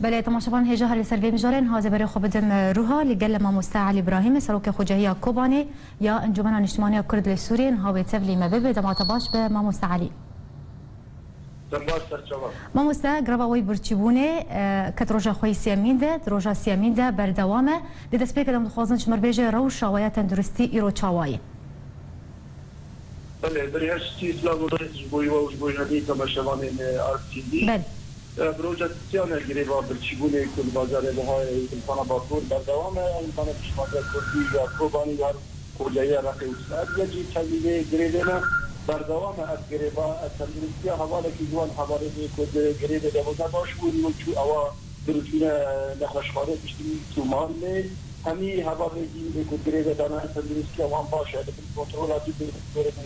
Belê temaşevan hê jahre li ser vê mijarê niha zê berê xwe bidim Ruha li gel mamoste Elî Brahîmê serokê xwecehiya Kobanê ya Encûmena Niştimaniya Kurd li Sûriyê niha wê tevlî me bibe dema te baş be mamoste Elî. Dem baş serçava. Mamoste greva wê birçîbûnê ket roja xwe yê sêyemîn de di roja sêyemîn de berdewam e. Di destpêkê de em dixwazin ji mir bêje rewşa we ya tenduristî îro çawa ye? Belê birî her çi silav û rêz ji bo wê û ji bo hemî temaşevanên Artv. Bi roja sisiyane greva birçîbûnê ku li bajarê Rihayê û Dilxana Bakur berdewam e, endamên Piştvandiya Kurdî ya Kobanî û Koleya Reqê û Sêrdiyê jî tevlî vê grevê ne. Berdewam e ev greva. Tenduristiya hevalekî ji wan hevalên wê ku di grevê de bû ne baş bû, îro çû ewa birûtîne nexweşxane piştî Tûman lê hemî hevalên din ê ku di grevê de ne tenduristiya wan baş e, li bin kontrola dû bê.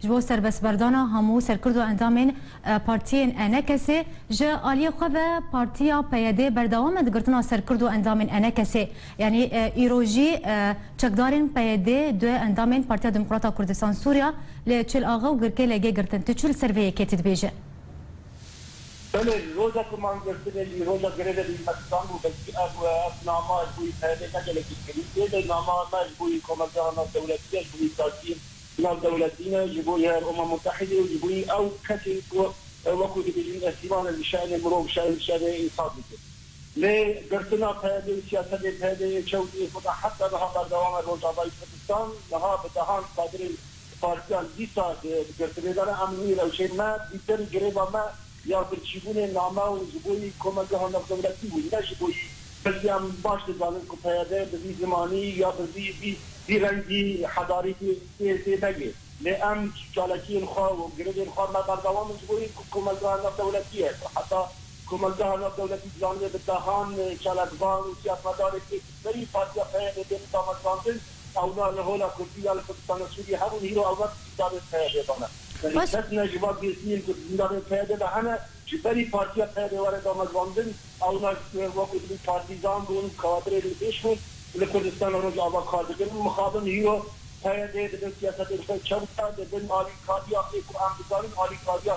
Ji bo serbestberdana hemû serkurd û endamên partiyên Enekesê, ji aliyê xwe ve partiya PYD berdewam e di girtina ser kurd û endamên Enekesê. Yanî îro jî çekdarên PYD du endamên Partiya Demokrata Kurdistan Sûriya li Çil Axe û Girkê LG girtin. Tu çi li ser vê yekêtî dibêjî? Belê, li roja ku man girtibê, li roja grevê li Îrmekistan bû, belkî ev ev nama ji bo PYD ne gelekî kirî, lê nama me ji bo komelgera navdewletî ye, ji bo îmdadiyên Navdewletî ne ji bo Eroma Mutehîdê û ji bo ew kesên ku wekû dibêjin îstîmale li şe'nê mirov, şer li şe'nê însan dikin. Lê girtina PYD û siyasetên PYD'ê ê çew ê ku ta heta niha berdewam e Rojavayî Kurdistan niha bi dehan kadirên partiyan dîsa di girtinê de ne. Em li wî rewşê me bîserî greva me ya birçîbûnê name û ji bo yî komegeha navdewletî bû ne ji bo yî. Belkî em baş dizanin ku PYD bi vî zimanî ya bi vî vî vî rengî hedarî tê tê tê negê. Lê em çalakiyên xwe û girevên xwe me berdewam in ji bo yî ku komelgeha navdewletî ye ku heta komelgeha navdewletî dizanibe bi dehan çalakvan û siyasmedarên têkilîferî partiya PYD bên damezrandin. Ewla li hola Kurdî ya li Kurdistana Sûriyê hebûn, îro ewla di zindanên PYD'ê de ne. Belê kes ne ji van girtiyên ku di zindanên PYD'ê de hene, ji berî Partiya PYD were damezrandin, ewla wekû dibin partîzan bûn, kadirê li pêş bûn, li Kurdistana Rojava kar dikin. Mixabin îro PYD'ê dibin siyasetên xwe çew bikin, dibin alîkariya wê ku em dizanin alîkariya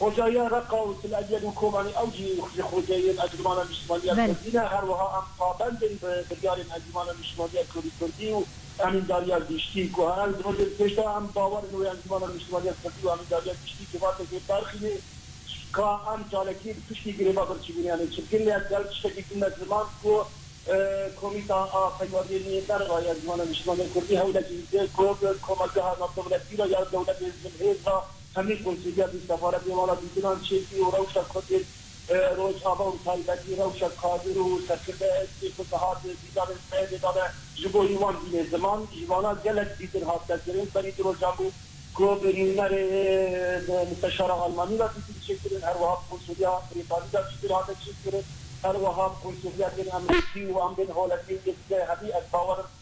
Xwecayîya Reqa û Til Ebiyed û Kobanî ew jî ji xwecayîyên Encûmana Niştimanîya Kurdî ne. Her wiha em pabend in bi biryarên Encûmana Niştimanîya Kurdî Kurdî û Emîndariya Giştî ku her ew di vir bên. Pêş de em bawer in wê Encûmana Niştimanîya Kurdî û Emîndariya Giştî civakekê berxîne ka em çalakî bi piştî greva birçîbûnê em ê çibkin lê ez di hev tiştekî din me ziman ku Komîta a Peywadiyên Nêzdar re ya Encûmana Niştimanîya Kurdî hewlekî dike ku bi komelgeha navdewletî re ya dewletên zilhêz re Hemî konseya du sefaretên welatîtinan çêkî û rewşa Kurdên Rojava û bi taybetî rewşa kadir û serkirdeyayîtiyê ku dihat dîdarên sibehê de ne ji bo hî wan bîne ziman ji vana gelek zîtir hat derkirin. Berî du rojan bû ku nûnerê Musteşara Almanî re dîtî diçêkirin her wiha bi konseya Brîtanî re zîtir hate çêkirin her wiha bi konseya tên Emrîkî û em bên holekê yê dide hemî ez bawer im